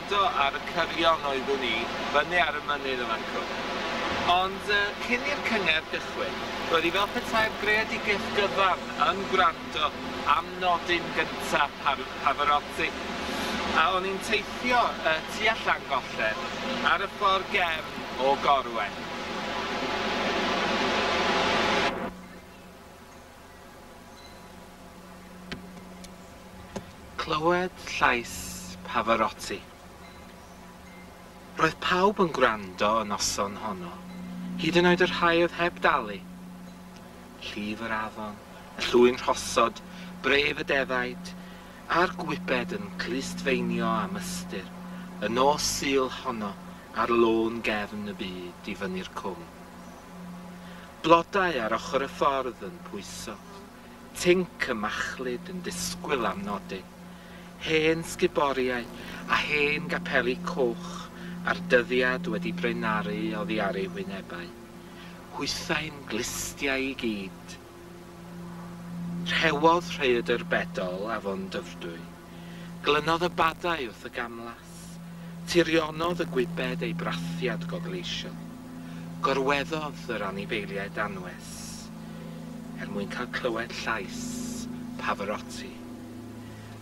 Eto ar y cyrion oeddwn i, fyny ar y mynydd y mancwn. Ond cyn i'r cyngerdd gychwyn, roedd hi fel petai'r greadigaeth gyfan yn gwrando am nodyn gynta' Pavarotti, a o'n i'n teithio tua Llangollen ar y ffordd gefn o Gorwen. Clywed llais Pavarotti. Roedd pawb yn gwrando y noson honno, hyd yn oed y rhai oedd heb dalu. Llif yr afon, y llwy'n rhosod, bref y defaid, a'r gwybed yn clustfeinio am ystyr, y nos Sul honno ar lôn gefn y byd i fyny'r cwm. Blodau ar ochr y ffordd yn pwyso, tinc y machlud yn disgwyl am nodyn, hen sguboriau a hen gapeli coch a'r dyddiad wedi braenaru oddi ar eu hwynebau. Hwythau'n glustiau i gyd. Rhewodd rhaeadr bedol afon Dyfrdwy. Glynodd y badau wrth y gamlas. Tirionodd y gwybed ei brathiad gogleisiol. Gorweddodd yr anifeiliaid anwes er mwyn cael clywed llais Pavarotti.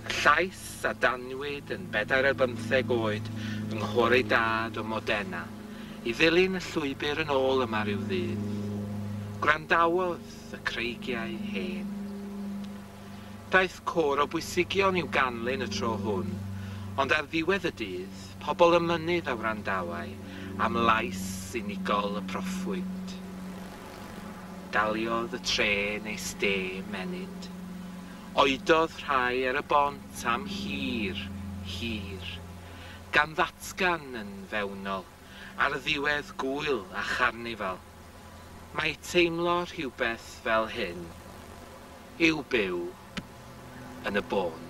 Y llais a danwyd yn bedair ar bymtheg oed yng nghôr ei dad o Modena. i ddilyn llwybr yn ôl yma ryw ddydd. Gwrandawodd y creigiau hen. Daeth côr o bwysigion i'w ganlyn y tro hwn, ond ar ddiwedd y dydd, pobl y mynydd a wrandawai am lais unigol y proffwyd. Daliodd y trên ei stêm ennyd. Oedodd rhai ar y bont am hir, hir, gan ddatgan yn fewnol, ar ddiwedd Gŵyl a Charnifal. Mae teimlo rhywbeth fel hyn yw byw yn y bôn.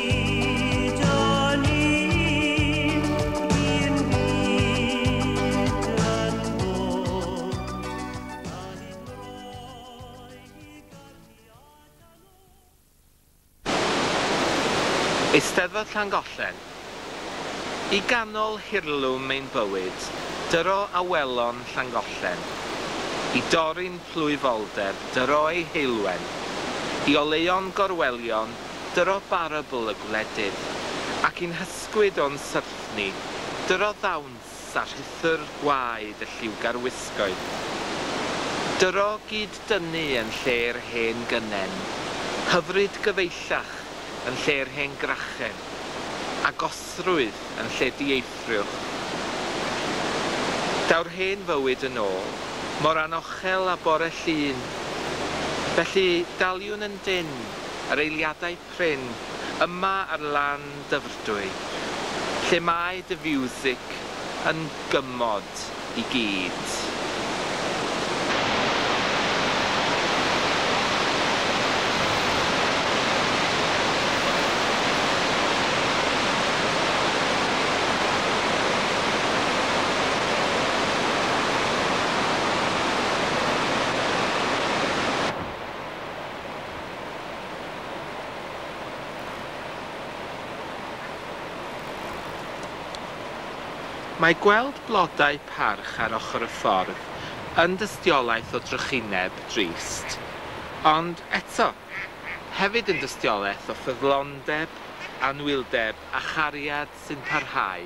Eisteddfod Llangollen. I ganol hirlwm ein bywyd, dyro awelon Llangollen. I dorri'n plwyfoldeb, dyro ei heulwen. I oleuon gorwelion, dyro barabl y gwledydd, ac i'n hysgwyd o'n syrth ni, dyro ddawns a rhuthr gwaed y lliwgar wisgoedd. Dyro gyd-dynnu yn lle'r hen gynnen, hyfryd gyfeillach yn lle'r hen grachen, agosrwydd yn lle dieithrwch. Daw'r hen fywyd yn ôl, mor anochel â bore Llun. Felly, daliwn yn dynn. yr eiliadau prin yma ar lan Dyfrdwy, lle mae dy fiwsig yn gymod i gyd. Mae gweld blodau parch ar ochr y ffordd yn dystiolaeth o drychineb drist, ond eto, hefyd yn dystiolaeth o ffyddlondeb, anwyldeb a chariad sy'n parhau.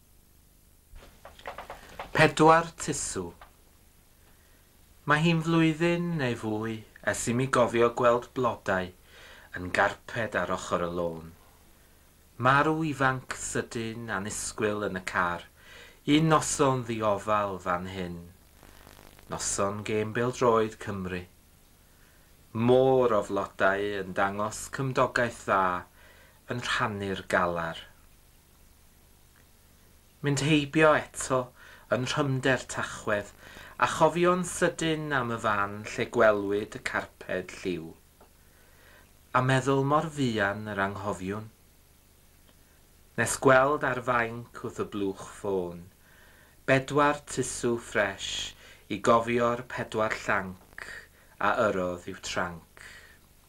Pedwar tusw. Mae hi'n flwyddyn neu fwy ers i mi gofio gweld blodau yn garped ar ochr y lôn. Marw ifanc sydyn annisgwyl yn y car un noson ddiofal fan hyn. Noson gêm bêl-droed Cymru. Môr o flodau yn dangos cymdogaeth dda yn rhannu'r galar. Mynd heibio eto yn rhymder Tachwedd, a chofio'n sydyn am y fan lle gwelwyd y carped lliw. A meddwl mor fuan yr anghofiwn. Nes gweld ar fainc wrth y blwch ffôn, bedwar tisw ffresh i gofio'r pedwar llanc a yrrodd i'w tranc.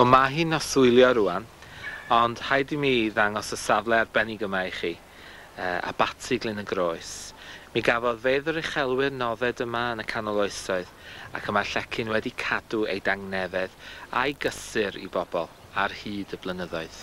Wel mae hi'n noswylio rwan, ond rhaid i mi ddangos y safle arbennig yma i chi, Abaty Glyn y Groes. Mi gafodd fedd yr uchelwyr nodded yma yn y canol oesoedd, ac y mae llecyn wedi cadw ei dangnefedd a'i gysur i bobl ar hyd y blynyddoedd.